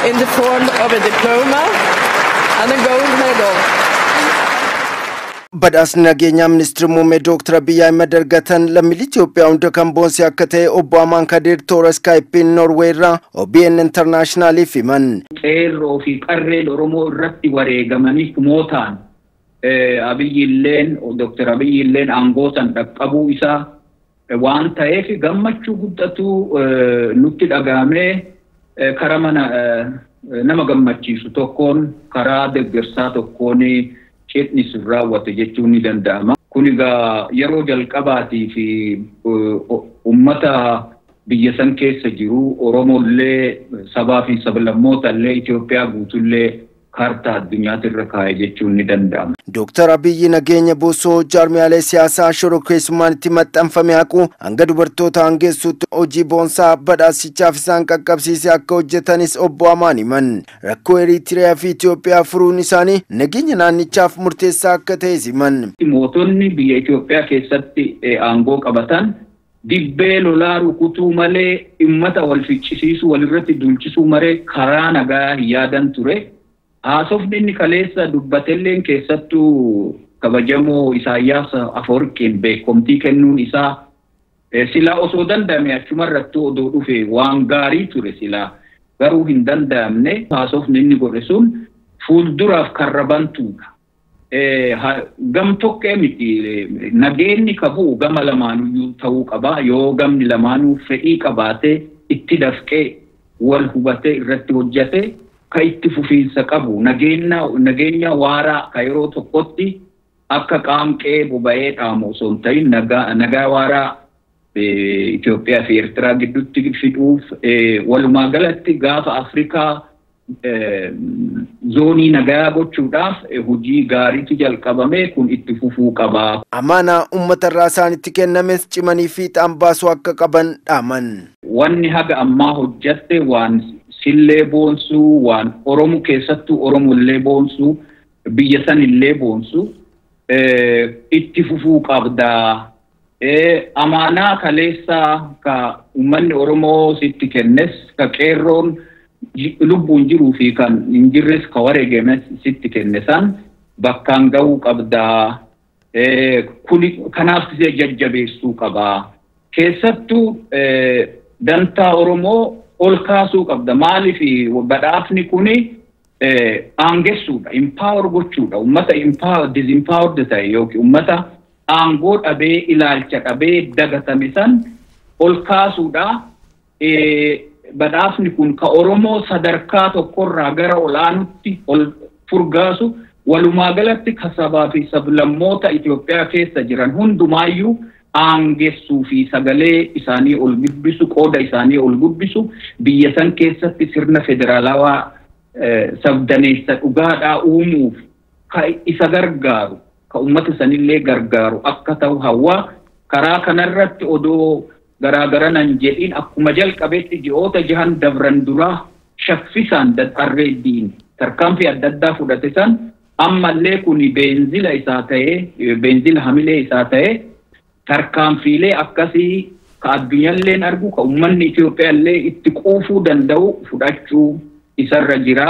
in the form of a diploma and a gold medal. Badhaasni nageenyaa ministeerri muummee Dooktar Abiyyi Ahimad argatan lammiilee Itoophiyaa hunda kan boonse akka ta'e obbo Amaan Kadir toora Iskaayipiin Noorweey irraa OBN Intarnaashinaaliif himan. Qeerroo fi qarreen Oromoo irratti wareegamanii kumootaan Abiyyi illeen Dooktar Abiyyi illeen aangoo san dhaqqabuu isaa waan ta'eef gammachuu guddatu nutti dhaga'amee kara mana nama gammachiisu tokkoon karaa deggersaa tokkoon cidhni sun raawwate jechuun ni danda'ama. Kun egaa yeroo jalqabaatiif ummata biyya san keessa jiru Oromoo illee sabaa fi sablammoota illee Itoophiyaa guutuu illee kaartaa addunyaati irra kaa'e jechuun ni danda'ama. Dooktar Abiyyi nageenya buusuu, jaarmiyaalee siyaasaa shororkeessummaan itti maxxanfame haquu, hanga dubartoota aangeessuutti hojii boonsaa badhaasichaaf isaan qaqqabsiise akka hojjetanis Obbo Amaan himan. Rakkoo Eriitiriyaa fi Itoophiyaa furuun isaanii nageenya naannichaaf murteessaa akka ta'es himan. Mootonni biyya Itoophiyaa keessatti aangoo qabatan Dibbee lolaa rukutuu malee immata wal ficcisiisuu walirratti duulchisuu mare karaa nagaa hin yaadan ture. Haasofni inni kaleessa dubbatelleen keessattuu kabajamoo Isaayyaas Afawarqiin beekkomtii kennuun isaa silaa osoo danda'amee achumarrattuu odoo dhufe waan gaarii ture silaa. Garuu hin danda'amne. Haasofni inni godhe sun fuulduraaf karra bantuudha. Gam tokkee miti nageenni ka bu'u gama lamaanuyyuu ta'uu qaba. Yoo gamni lamaanuu fedhii qabaate itti dafqee wal hubatee irratti hojjate ka itti fufiinsa qabu nageenya waaraa ka yeroo tokkotti akka qaanqee boba'ee dhaamu osoo hin ta'in nagaa waaraa Itoophiyaa fi Ertiraa gidduutti fiduuf walumaa galatti gaafa Afrikaa zoonii nagayaa gochuudhaaf hojii gaariitu jalqabame kun itti fufuu qaba. Amaanaa ummata irraa isaanitti kennames cimanii fiixaan baasuu akka qaban dhaaman. Wanni haga ammaa hojjatte waan sillee boonsu, waan Oromo keessattuu Oromo illee boonsu, biyya san illee boonsu itti fufuu qabda. Amaanaa kaleessaa ka ummanni Oromoo sitti kennes, ka qeerroon lubbuun jiruu fi kan hin jirres ka wareegames sitti kenne san bakkaan gahuu qabda. Kuni kanaaf si jajjabeessuu qaba. Keessattuu dantaa Oromoo ol kaasuu qabda. Maaliif badhaafni kuni aangessuudha, empower gochuudha. Ummata empower, disempowered ta'e yookiin ummata aangoo dhabee, ilaalcha dhabee, dagatame san ol kaasuudha. Badhaasni kun ka Oromoo sadarkaa tokkorraa gara ol aanutti ol furgaasu walumaa galatti ka sabaa fi sablammoota Itoophiyaa keessa jiran hundumaayyuu aangessuu fi sagalee isaanii ol guddisu, qooda isaanii ol guddisu, biyya san keessatti sirna federaalawaa sabdaneessa dhugaadhaa uumuuf ka isa gargaaru, ka ummata sanillee gargaaru akka tahu hawwa. Karaa kanarratti odoo garaa garana hin jedhin akkuma jalqabetti ji'oota jahan dabran duraa shaffisaan, dadharreeddiin, tarkaanfii adda addaa fudhate san Ammallee kuni beenzila isaa ta'ee, beenzila hamilee isaa ta'ee, tarkaanfiilee akkasii ka addunyalleen argu, ka ummanni Itoophiyaallee itti quufuu danda'u fudhachuu isarra jira.